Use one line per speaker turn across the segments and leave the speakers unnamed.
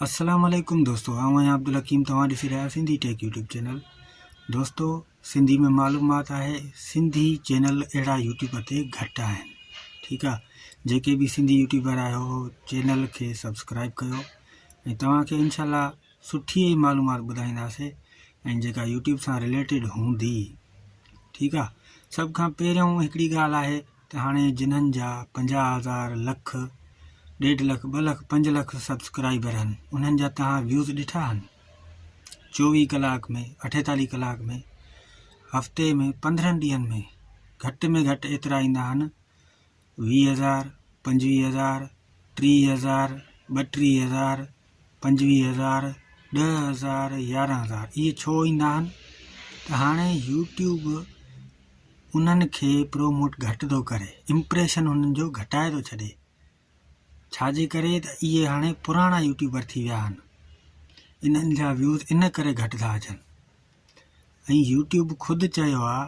السلام عليڪم دوستو آئون آهيان عبدالحڪيم توهان ڏسي رهيا آهيو سنڌي ٽيڪ يوٽيوب چينل دوستو سنڌي ۾ معلومات آهي سنڌي چينل اهڙا يوٽيوب تي گهٽ آهن ٺيڪ آهي جيڪي به سنڌي يوٽيوبر آهيو چينل کي سبسڪرائب ڪيو ۽ توهان کي انشاء الله سٺي ئي معلومات ٻڌائينداسي ۽ جيڪا يوٽيوب سان رليٽيڊ هوندي ٺيڪ آهي سڀ کان پهريون هڪڙي ڳالهه آهي ته هاڻي جنھن جا پنجاهه هزار، لک، ڏيڍ لک، ٻه لک، پنج لک سبسڪرائبر هن انهن جا توهان ويوز ڏٺا هن؟ چوويهه ڪلاڪ ۾ اٺيتاليهه ڪلاڪ ۾ هفتي ۾ پندرهن ڏينهن ۾ گهٽ ۾ گهٽ ايترا ايندا هن ويهه هزار، پنجويهه هزار، ٽيهه هزار، ٻٽيهه هزار، پنجويهه هزار، ڏهه هزار، يارهن هزار اهي ڇو ايندا آهن ته هاڻي يوٽيوب انهن کي پروموٽ گهٽ ٿو ڪري امپريشن انهن جو گهٽائي ٿو ڇڏي ڇاجي ڪري ته اهي هاڻي پراڻا يوٽيوبر ٿي ويا آهن انهن جا ويوز ان ڪري گهٽ ٿا اچن ۽ يوٽيوب خود چيو آهي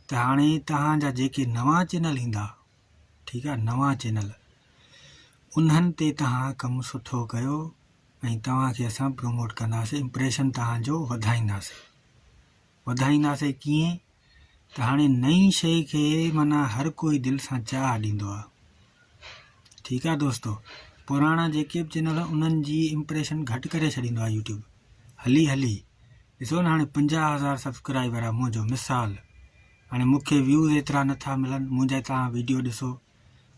ته هاڻي توهان جا جيڪي نوان چينل ايندا ٺيڪ آ نوان چينل انهن تي توهان ڪم سٺو ڪيو ۽ توهان کي اسان پروموٽ ڪنداسين امپريشن توهان جو وڌائينداسين وڌائينداسين ڪيئن ته هاڻي نئين شيء کي مانا هر ڪوئي دل سان چاهه ڏيندو آ ٺيڪ آ دوستو پراڻا جيڪي به چينل انهن جي امپريشن گهٽ ڪري ڇڏيندو آ يوٽيوب هلي هلي ڏسو نه هاڻي پنجاهه هزار سبسڪرائبر آ منهنجو مثال هاڻي مون کي ويوز ايترا نه ٿا ملن منهنجا توهان ويڊيو ڏسو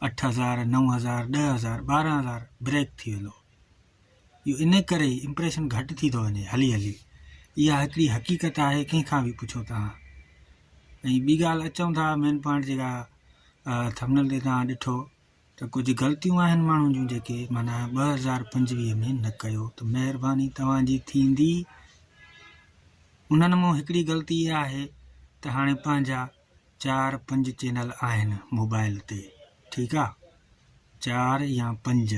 اٺ هزار نو هزار ڏهه هزار ٻارهن هزار بريڪ ٿي ويندو اهو ان ڪري ئي امپريشن گهٽ ٿي ٿو وڃي هلي هلي اها هڪڙي حقيقت آهي ڪنهن کان به پڇو توهان ۽ ٻي ڳالهه اچون ٿا مين پوائنٽ جيڪا ٿمنل تي توهان ڏٺو ته ڪجهه غلطيون آهن ماڻهن جون جيڪي معنيٰ ٻه هزار پنجويهه ۾ نه ڪيو ته مهرباني توهان جي ٿيندي انهن مون هڪڙي غلطي اها آهي ته هاڻي پنهنجا چار پنج چينل آهن موبائل تي ٺيڪ آ چار يا پنج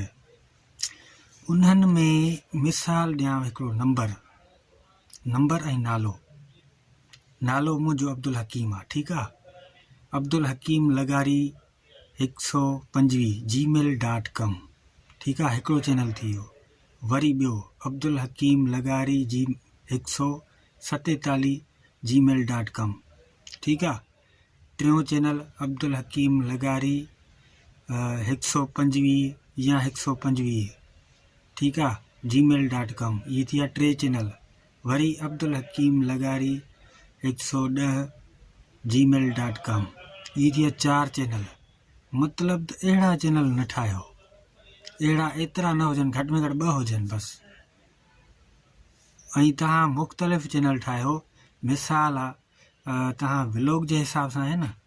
انهن ۾ مثال ڏيان هڪڙو نمبر نمبر ۽ نالو نالو منهنجو عبدالحڪيم آ ٺيڪ آ عبدالحڪيم لغاري هڪ سؤ پنجويهه جي ميل ڊاٽ ڪم ٺيڪ آ هڪڙو چينل ٿي ويو وري ٻيو عبدالحڪيم لغاري جي هڪ سؤ ستيتاليهه جي ميل ڊاٽ ڪم ٺيڪ آ ٽيون چينل عبدالحڪيم لغاري هڪ سؤ پنجويهه يا هڪ سؤ پنجويهه ٺيڪ آ جي ميل ڊاٽ ڪم اهي ٿي ويا ٽي چينل وري عبدالحڪيم لغاري هڪ سؤ ڏهه جي ميل ڊاٽ ڪام اي جي چار چينل مطلب ته اهڙا چينل نه ٺاهيو اهڙا ايترا نه هجن گهٽ ۾ گهٽ ٻه هجن بس ۽ تهان مختلف چينل ٺاهيو مثال تهان ولوگ جي حساب سان آهي نه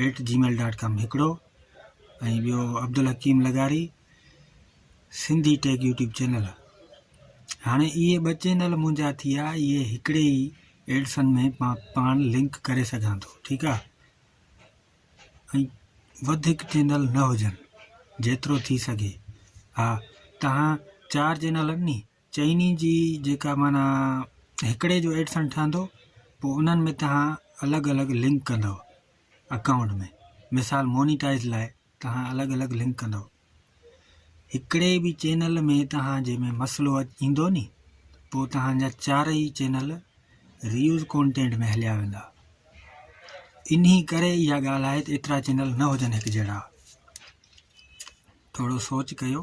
at Gmail dot com هڪڙو ۽ ٻيو عبدالحڪيم لغاري سنڌي ٽيڪ يوٽيوب چينل هاڻي اهي ٻه چينل منهنجا ٿي ويا اهي هڪڙي ئي ايڊسن ۾ مان پاڻ لنڪ ڪري سگهان ٿو ٺيڪ آهي ۽ وڌيڪ چينل نه هجن جيترو ٿي سگهي ها تهان چار چينل ني چئني جي جيڪا معنيٰ هڪڙي جو ايڊسن ٺهندو پوء انهن ۾ توهان الڳ الڳ لنڪ ڪندو اڪائونٽ ۾ مثال مونيٽائز لاء توهان الڳ الڳ لنڪ ڪندو هڪڙي به چينل ۾ توهان جي ۾ مسئلو ايندو ني پوء توهان جا چار ئي چينل ريوز ڪونٽينٽ ۾ هليا ويندا انهي ڪري اها ڳالهه آهي ته ايترا چينل نه هجن هڪ جهڙا ٿورو سوچ ڪيو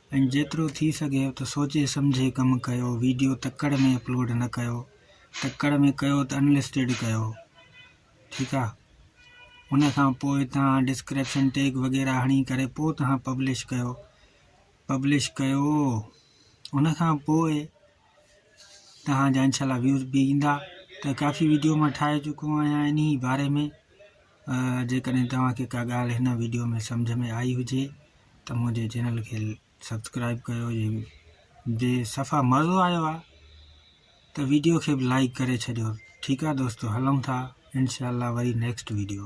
۽ جيترو ٿي سگهيو ته سوچي سمجهي ڪم ڪيو ويڊيو تڪڙ ۾ اپلوڊ نه ڪيو تڪڙ ۾ ڪيو ته انلسٽيڊ ڪيو ٺيڪ آ ان کان پوء تهان ڊسڪرپشن ٽيگ وغيره هڻي ڪري پوء تهان پبلش ڪيو پبلش ڪيو ان کان پوء تهان جا انشاءالله ويوز به ايندا ته ڪافي ويڊيو مان ٺاهي چڪو آهيان انهي باري ۾ جيڪڏهن توهان کي ڪا ڳالهه هن ويڊيو ۾ سمجهه ۾ آئي هجي ته منهنجي چينل کي سبسڪرائب ڪيو جي جي صفا مزو آيو آهي ته ويڊيو کي به لائڪ ڪري ڇڏيو ٺيڪ آهي دوستو هلون ٿا انشاءالله وري نيڪسٽ ويڊيو